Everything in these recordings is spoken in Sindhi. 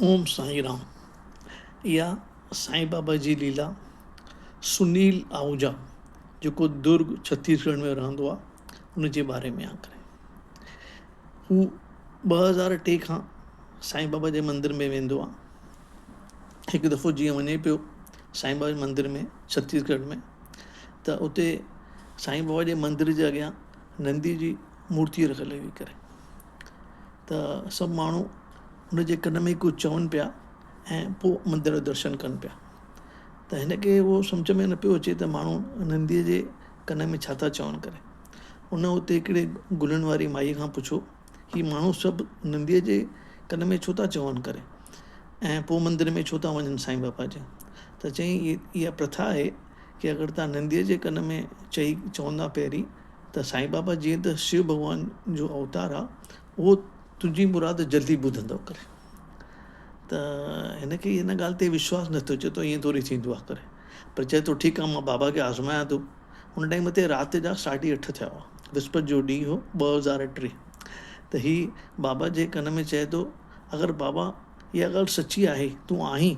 اوم سائين رام يا سائين بابا جي ليلا سنيل آهوجا جيڪو درگ ڇتيس ڳڙهه ۾ رهندو آهي ان جي باري ۾ آکري هو ٻه هزار ٽي کان سائين بابا جي مندر ۾ ويندو آهي هڪ دفعو جيئن وڃي پيو سائين بابا جي مندر ۾ ڇتيس ڳڙهه ۾ ته اتي سائين بابا جي مندر جي اڳيان نندي جي مورتي رکيل هئي ڪري ته سڀ ماڻهو ان جي ڪن ۾ ڪجهه چون پيا ۽ پوء مندر جو درشن ڪن پيا ته هن کي هو سمجهه ۾ نه پيو اچي ته ماڻهو ننديء جي ڪن ۾ ڇا ٿا چون ڪري ان اتي هڪڙي گلن واري مائي کان پڇيو هي ماڻهو سڀ ننديء جي ڪن ۾ ڇو ٿا چون ڪري ۽ پوء مندر ۾ ڇو ٿا وڃن سائين بابا جي ته چيائين اها پرٿا آهي ڪي اگر تان ننديء جي ڪن ۾ چئي چوندا پهرين ته سائين بابا جيئن ته شو ڀڳوان جو اوتار آ اهو تنهنجي مراد جلدي ٻڌندو ڪري ته هن کي ان ڳالهه تي وشواس نه ٿو چي ٿو ائين ٿوري ٿيندو آ ڪري پر چي ٿو ٺيڪ آ مان بابا کي آزمايان ٿو ان ٽائيم تي رات جا ساڍي اٺ ٿيا هئا وسپت جو ڏينهن هو ٻه هزار ٽي ته هي بابا جي ڪن ۾ چي ٿو اگر بابا اها ڳالهه سچي آهي تون آهين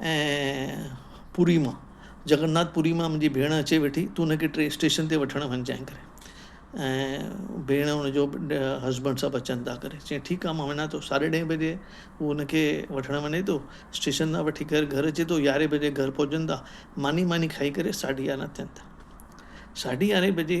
۽ پوري مان جگناٿ پوري مان منهنجي ڀيڻ اچي ويٺي تون هن کي ٽي اسٽيشن تي وٺڻ وڃجانء ڪري ۽ ڀيڻ هن جو هسبنڊ سڀ اچن ٿا ڪري چي ٺيڪ آ مان وڃان ٿو ساڍي ڏهين بجي هو هن کي وٺڻ وڃي ٿو اسٽيشن تان وٺي ڪر گهر اچي ٿو يارهين بجي گهر پهچن ٿا ماني ماني کائي ڪري ساڍي يارهن ٿين ٿا ساڍي يارهين بجي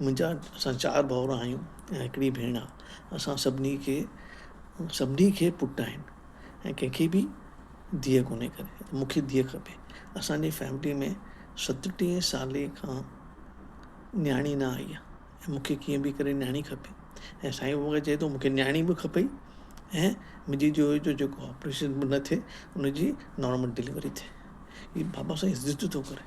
منهنجا اسان چار ڀائر آهيون ۽ هڪڙي ڀيڻ آ اسان سڀني کي سڀني کي پٽ آهن ۽ ڪنهنکي به ڌيء ڪونهي ڪري مونکي ڌيء کپي اسانجي فيملي ۾ ستٽيهه سالي کان نياڻي نه آئي آ ۽ مونکي ڪيئن به ڪري نياڻي کپي ۽ سائين بابا چئي ٿو مونکي نياڻي به کپئي ۽ منهنجي جو جو جيڪو آپريشن به نه ٿئي انهن جي نارمل ڊليوري ٿئي هي بابا سائين ضد ٿو ڪري